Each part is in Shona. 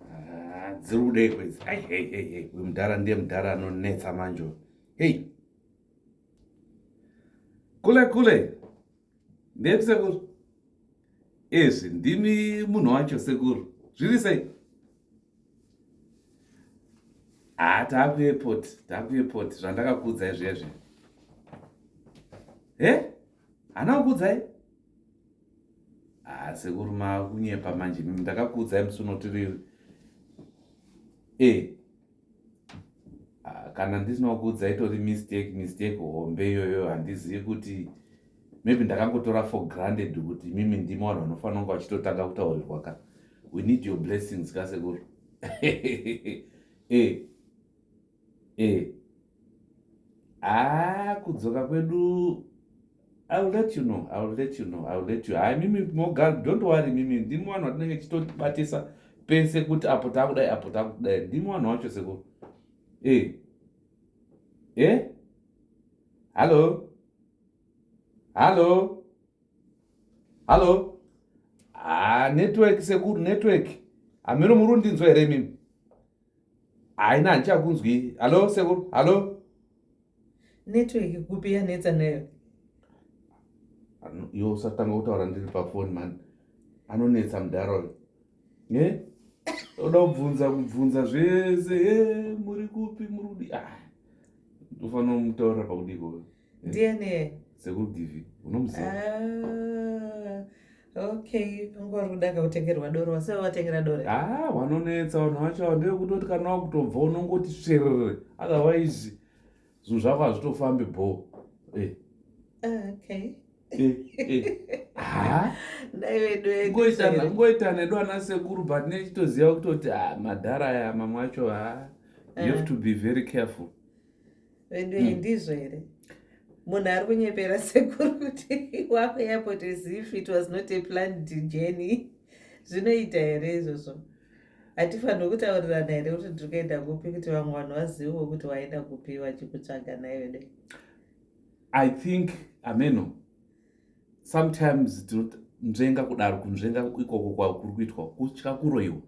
ah, dziri kudei kwedzi ai hei hei hei uyu mudhara ndiye mudhara anonetsa manje hei kule kule ndeyekuti sekuru ezvi ndimi munhu wacho sekuru zviri sei haa ah, taakuepot taakuepot zvandakakuudzai zviya zviya he hana kukuudzai Ah, sekuru makunyepa manje ndakakuudzai musi unotiriri eh, ah, kana ndisina kukuudzai itori mistake mistake hombe iyoyo handizivi kuti maybe ndakangotora for granted kuti mimi ndimi vanhu vanofanira kunge vachitotanga kutaurirwa ka we need your blessings ka sekuru e eh. Eh. Ah, kudzoka kwedu I will let you know. I will let you know. I will let you. Hayi mimi mogal don't worry mimi ndimi vanhu vatinenge tichitotibatisa pese kuti apo takudai apo takudai ndimi vanhu vacho sekuru. Eh. Eh? Hallo? Hallo? Hallo? Ah, network sekuru network. Ameno murundinzwa here mimi? haina handichakunzwi hallo sekuru hallo network kupi yanetsa nayo yo usatanga kutaura ndiri pafoni mani anonetsa mudhara uyo ne oda kubvunza kubvunza zvese e muri kupi muri kudi ah, ufanira kumutaurira pakudiko uyo ndiani iye sekuru givi unomuziva ah, okay unge wari kudaka kutengerwa doro wase wavatengera doro a ah, wanonetsa vanhu vacho ava ndevekutoti kana wakutobva unongoti sverere otherwise zvinhu zvako hazvitofambi bho eh. ah, okay ngoita nedu ana sekuru but nechitoziva kutoti madhara aya mamwe acho ha you have to be very careful vedu iyi hmm. ndizvo here munhu ari kunyepera sekuru kuti wako airport as if it was not a planned journey zvinoita here izvozvo hatifaniri kutaurirana here kuti ndiri kuenda kupi kuti vamwe vanhu vazivewo kuti waenda kupi vachikutsvaga nai vede i think ameno sometimes tinonzvenga kudaro kunzvenga ikoko kwakuri kuitwa kutya kuroyiwa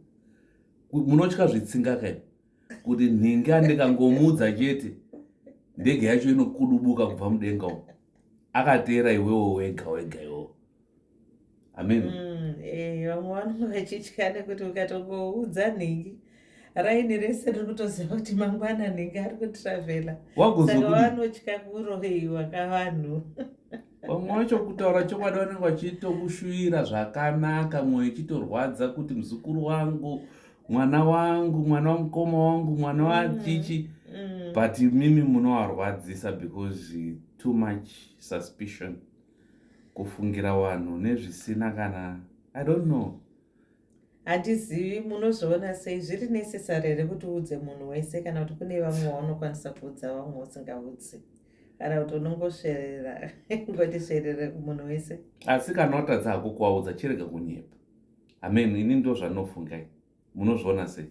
munotya zvitsinga kai kuti nhinga ndikangomuudza chete ndege yacho inokudubuka kubva mudenga umo akateera iwewo wega wega iwo amen mm, eh, vamwe vanonge vachitya nekuti ukatongoudza nhingi raini rese riri kutoziva kuti mangwana nhingi ari kutravela saka vanotya kuroheiwa kavanhu vamwe vacho kutaura chokwadi vanenge vachitokushuvira zvakanaka mwoyo ichitorwadza kuti muzukuru wangu mwana wangu mwana wamukoma wangu mwana mm. wachichi mm. but mimi munowarwadzisa because too much suspicion kufungira vanhu nezvisina kana i don't know handizivi munozoona sei zviri necessary here kuti uudze munhu wese kana kuti kune vamwe waunokwanisa kuudza vamwe usingaudzi kana kuti unongosverera ngoti sverere kumunhu wese asi kana watadza hako kuwaudza chirega kunyepa Amen. Ini ndozvandinofunga. Munozviona sei?